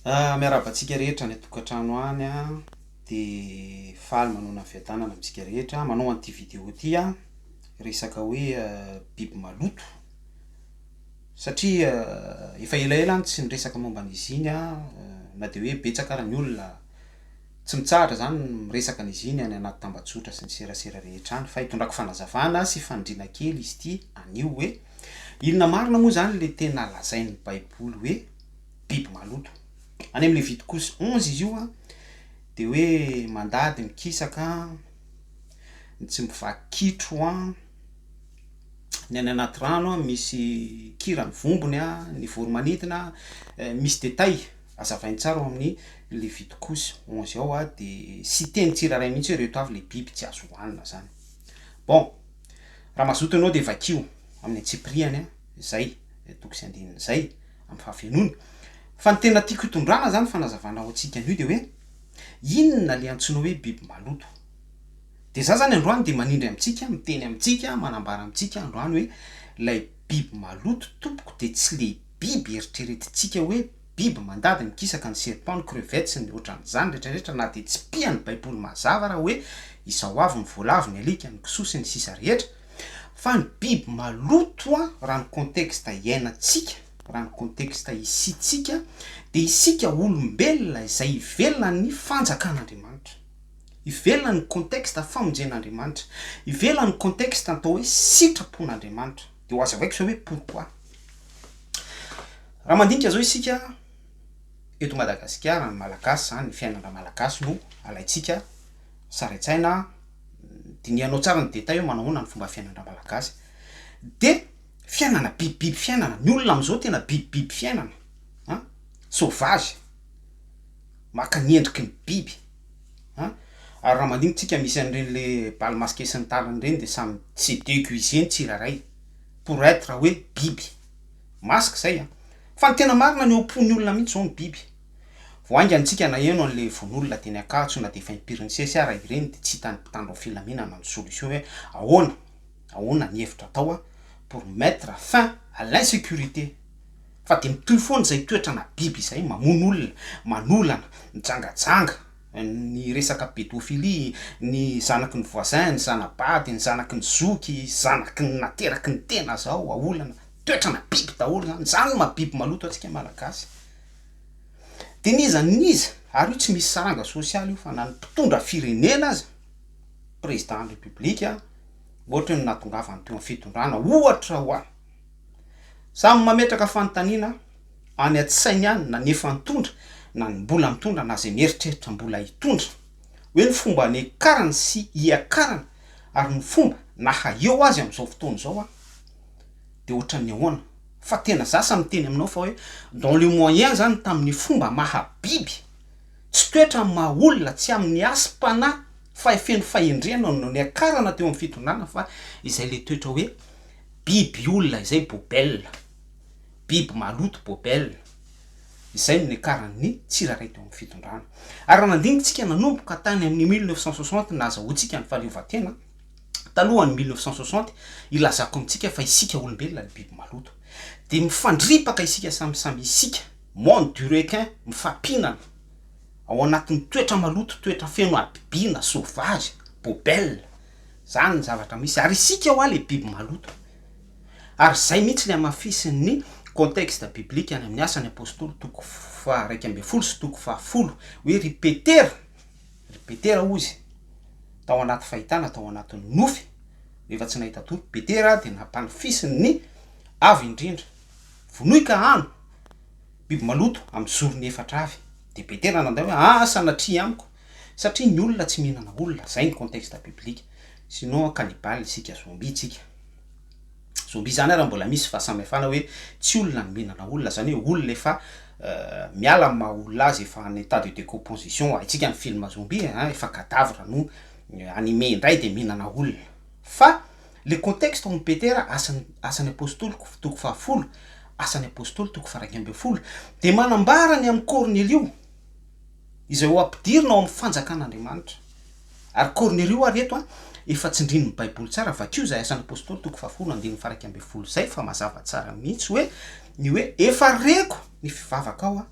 Miarahaba antsika rehetra any an-tokantrano any an, dia faly manohana ny fiadanana amintsika rehetra, manohana ity video ity aho, resaka hoe biby maloto, satria efa elaela aho no tsy niresaka momba an'izy iny an, na dia hoe betsaka ary ny olona tsy mitsahatra zany ny miresaka an'izy iny any anaty tambajotra sy ny serasera rehetra any, fa hitondrako fanazavana sy fanindriana kely izy ity anio hoe. Inona marina moa izany ilay tena lazain'ny Baiboly hoe biby maloto? Any amin'ny Levitikosy onze izy io dia hoe mandady ny kisaka, ny tsy mivaky kitro, ny any anaty rano misy kirany vombony, ny voro-manidina, misy détails hazavainy tsara ao amin'ny Levitikosy onze ao dia tsy teny tsirairay mihitsy hoe ireto avy ilay biby tsy azo hohanina izany. Bon. Raha mazoto ianao dia vakio amin'ny antsipiriany izay toko sy andininy izay amin'ny fahafenoany. Fa ny tena tiako hitondrana izany fanazavana ho antsika anio dia hoe, inona ilay antsoina hoe biby maloto? Dia izaho izany androany dia manindry amintsika, miteny amintsika, manambara amintsika androany hoe, ilay biby maloto tompoko dia tsy ilay biby eritreretintsika hoe, biby mandady ny kisaka ny serpent ny crevettes sy ny otran'izany retraretra na dia tsy pia ny baiboly mazava raha hoe izao avy ny voalavo ny alika ny kisoa sy ny sisa rehetra fa ny biby maloto a raha ny contexte iainantsika raha ny contexte isiantsika dia isika olombelona izay ivelona ny fanjakan'andriamanitra ivelona ny contexte famonjen'andriamanitra ivelona ny contexte atao hoe sitrapon'andriamanitra de ho azavaiko zao hoe pourquoi? Raha mandinika zao isika eto Madagasikara ny Malagasy zany ny fiainana Malagasy no alaintsika sary an-tsaina dinihanao tsara ny détail hoe manao ahoana ny fomba fiainana Malagasy de fiainana bibibiby fiainana ny olona amizao tena bibibiby fiainana an sauvage maka ny endriky ny biby an! ary raha mandinika tsika misy an'ireny le bal masqué sy ny tariny ireny dia samy se déguiser ny tsirairay pour être hoe biby masque zay an! fa ny tena marina ny eo am-pon'ny olona mihintsy zao no biby vao haingana tsika naheno an'le vono'olona teny Ankatso na dia efa impirin'isesy ara ireny dia tsy hitan'ny mpitandro filaminana ny solution hoe ahoana ahoana ny hevitra atao an! pour mettre fin à l'insécurité. Fa dia mitohy foana izay toetrana biby izay, mamono olona, manolana, mijangajanga, ny resaka pédophilie, ny zanaky ny voisin, ny zana-bady, ny zanaky ny zoky, zanaky ny nateraky ny tena zao aolana, toetrana biby daholo izany, izany no maha biby maloto antsika malagasy. Dia n'iza n'iza, ary io tsy misy saranga sosialy io, fa na ny mpitondra firenena aza, président de la république, ohatry ny nahatongavany teo amin'ny fitondrana, ohatra hoa. Samy mametraka fanontaniana any an-tsainy any na ny efa nitondra na ny mbola mitondra na izay mieritreritra mbola hitondra hoe ny fomba niakarany sy hiakarany ary ny fomba naha eo azy amin'izao fotoana izao an dia ohatran'ny ahoana fa tena za sa miteny aminao fa hoe dans le moyen zany tamin'ny fomba maha biby tsy toetra amin'ny maha olona tsy amin'ny hasim-panahy fahefeno fahendrena no niakarana teo amin'ny fitondrana fa izay le toetra hoe Biby olona izay bobelle. Biby maloto bobelle. Izay no niakaran'ny tsirairay teo amin'ny fitondrana. Ary raha nandinikintsika nanomboka tany amin'ny mille neuf cent soixante ny nahazahoantsika ny fahaleovantena, talohan'ny mille neuf cent soixante, ilazako amintsika fa isika olombelona no biby maloto. Dia mifandripaka isika samy samy isika, monde du requin, mifampihinana, ao anatin'ny toetra maloto, toetra feno habibiana, sauvage, bobelle. Zany ny zavatra misy ary isika hoa le biby maloto ary zay mihitsy le amafisiny ny contexte biblique any amin'ny Asan'ny Apostoly toko faha iraika ambin'ny folo sy toko faha folo hoe ry Petera ry Petera hoy izy tao anaty fahitana tao anatin'ny nofy rehefa tsy nahita tory Petera dia nampanifisiny ny Avo indrindra vonoy ka hano biby maloto amin'ny zorony efatra avy dia Petera nandray hoe aa sanatria amiko Satria ny olona tsy mihinana olona, zay ny contexte biblique, sinon cannibale isika, zombie tsika. Zombie zany ary mbola misy fahasamihafana hoe tsy olona ny mihinana olona, zany hoe olona efa miala amin'ny maha olona azy, efa en etat de decomposition, haintsika ny film zombie e, an, efa cadavre no anime indray dia mihinana olona. Fa le contexte ao amin'ny Petera, asan, asan'ny apostoly toko fahafolo, asan'ny apostoly toko faha iraika ambin'ny folo, dia manambara ny amin'i Kornelio, izay ho ampidirina ao amin'ny fanjakan'Andriamanitra. Ary Kornelio ary eto an, efa tsindrin'ny baiboly tsara, vakio izay asan'ny apostoly toko fahafolo andininy faha iraika ambin'ny folo izay fa mazava tsara mihitsy hoe ny hoe efa reko ny fivavakao an,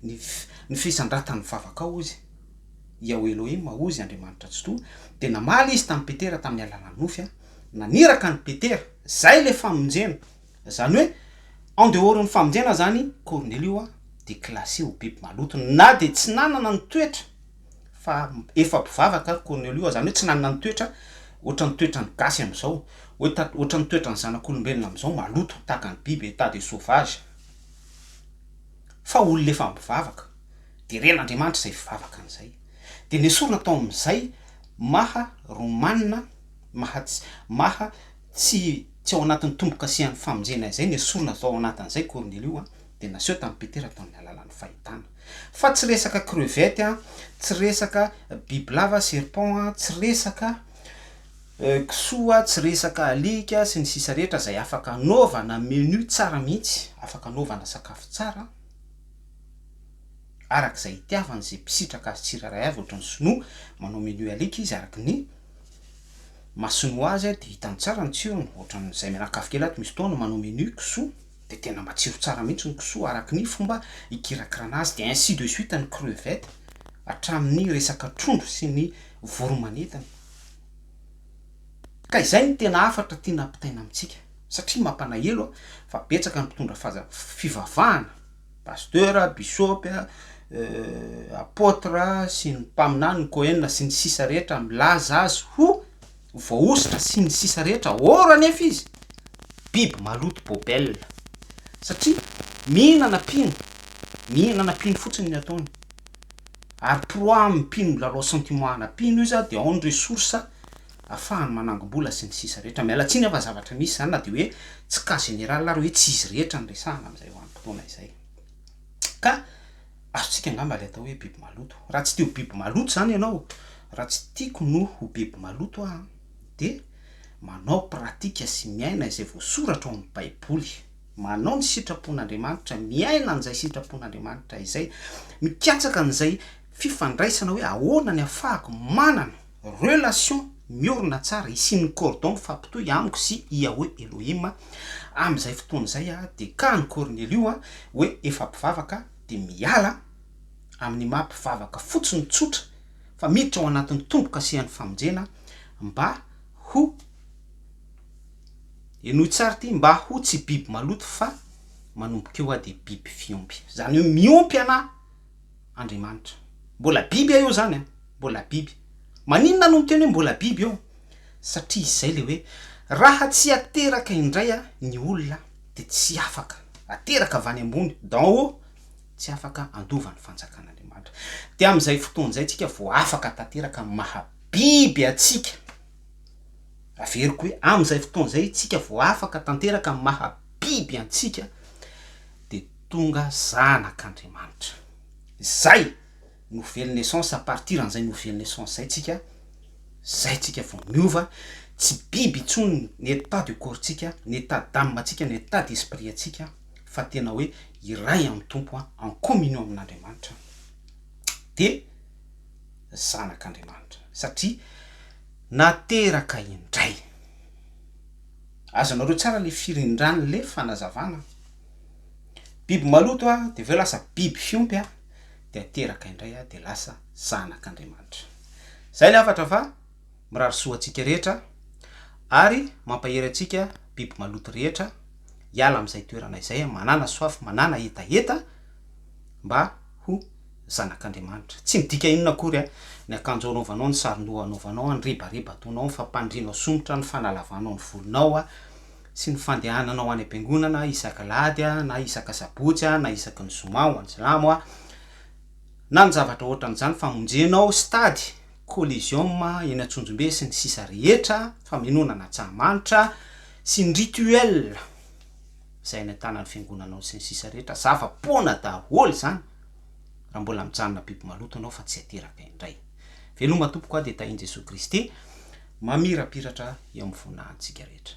ny ny fisandratan'ny vavakao hozy Iaoh Elohim hozy Andriamanitra Tsitoha, dia namaly izy tamin'i Petera tamin'ny alalan'ny nofy an, naniraka an'i Petera, izay ilay famonjena, Zany hoe en dehors ny famonjena zany Cornelio a de classé ho biby maloto na de tsy nanana ny toetra fa efa mpivavaka ary Cornelio a zany hoe tsy nanana ny toetra ohatran'ny toetran'ny gasy amizao hoe ta ohatran'ny toetran'ny zanak'olombelona amizao maloto tahaka ny biby état de sauvage fa olona efa mpivavaka de ren'Andriamanitra zay fivavaka an'izay de nesorina tao amizay maha romana maha tsy maha Tsy tsy ao anatin'ny tombo-kasihan'ny famonjena izay nesorina zao ao anatin' izay Kornelio a, dia naseho tamin'i Petera tamin'ny alalan'ny fahitana. Fa tsy resaka crevette a, tsy resaka bibilava, serpent, a, tsy resaka kisoa, tsy resaka alika sy ny sisa rehetra izay afaka anaovana menu tsara mihitsy, afaka anaovana sakafo tsara araka izay itiavany izay mpisitraka azy tsirairay avy ohatran'ny sinoa manao menu alika izy araka ny Masony ho azy dia hitany tsara ny tsirony, ohatran'ny izay mianakavy kely ato misy fotoana manao menu kisoa dia tena matsiro tsara mihitsy ny kisoa araka ny fomba hikirakirana azy dia ainsi de suite ny crevettes hatramin'ny resaka trondro sy ny voromanidina ka izay no tena hafatra tiana hampitaina amintsika satria mampalahelo fa betsaka ny mpitondra fivavahana Pasteur, Bisôpy, Apôtre sy ny Mpaminany, ny Kohen sy ny sisa rehetra milaza azy ho voahosotra sy ny sisa rehetra, or anefa izy biby maloto bôbelle satria mihinana mpino, mihinana mpino fotsiny ny ataony, ary proie amin'ny mpino milalao sentiment ana mpino izy dia ao ny ressource. ahafahany manangom-bola sy ny sisa rehetra. Miala tsiny aho fa zavatra misy izany na dia hoe tsy cas général ary hoe tsy izy rehetra no resahana amin'izay vanim-potoana izay. Ka azontsika angamba ilay atao hoe biby maloto. Raha tsy te ho biby maloto izany ianao, raha tsy tiako no ho biby maloto aho, dia manao pratika sy miaina izay voasoratra ao amin'ny Baiboly. Manao ny sitrapon'Andriamanitra, miaina an'izay sitrapon'Andriamanitra izay. Mikatsaka an'izay fifandraisana hoe ahoana ny ahafahako manana. Relation miorina tsara hisian'ny cordon mifampitohy amiko sy Yahweh Elohim amin'izay fotoana izay aho dia ka an'i Kornelio aho hoe efa mpivavaka dia miala amin'ny maha mpivavaka fotsiny tsotra fa miditra ao anatin'ny tombo-kasehan'ny famonjena mba ho henoy tsara ity mba ho tsy biby maloto fa manomboka eo aho dia biby fiompy izany hoe miompy ana Andriamanitra. Mbola biby eo izany an! Mbola biby. Maninona no miteny hoe mbola biby eo? Satria izay ilay hoe, raha tsy ateraka indray ny olona dia tsy afaka, ateraka avy any ambony, d'en haut, tsy afaka handova ny fanjakan'Andriamanitra. Dia amin'izay fotoana izay isika vao afaka tanteraka amin'ny maha biby antsika. Averiko hoe, amin'izay fotoana izay isika vao afaka tanteraka amin'ny maha biby antsika. Dia. tonga zanak Andriamanitra. Zay! Nouvelle naissance à partir an'izay nouvelle naissance zay tsika, zay tsika vao miova, tsy biby intsony ny état de corps tsika, ny état d'âme tsika, ny état d'esprit antsika fa tena hoe iray amin'ny Tompo an, en communion amin'Andriamanitra de zanak Andriamanitra satria nateraka indray. Azonareo tsara le firindran'le fanazavana? Biby maloto aho dia avy eo lasa biby fiompy aho dia teraka indray aho dia lasa zanak'Andriamanitra. Izay ny hafatra fa mirary soa antsika rehetra ary mampahery antsika biby maloto rehetra hiala amin'izay toerana izay manana soif manana hetaheta mba ho zanak'Andriamanitra. Tsy midika inona akory ny akanjo anaovanao, ny saron-doha anaovanao, ny rebareba ataonao, ny fampandrianao somotra, ny fanalavanao ny volonao, sy ny fandehanana ho any am-piangonana isaky alahady na isaky asabotsy na isaky ny zoma ho an'silamo na ny zavatra ohatran'izany famonjenao stade coliseum eny antsonjombe sy ny sisa rehetra famenoana an'antsahamanitra sy ny rituel izay any an-tanan'ny fiangonanao sy ny sisa rehetra zava-poana daholo izany raha mbola mijanona biby maloto ianao fa tsy ateraka indray Veloma tompoko a dia tahin Jesoa Kristy mamirapiratra eo amin'ny fona antsika rehetra.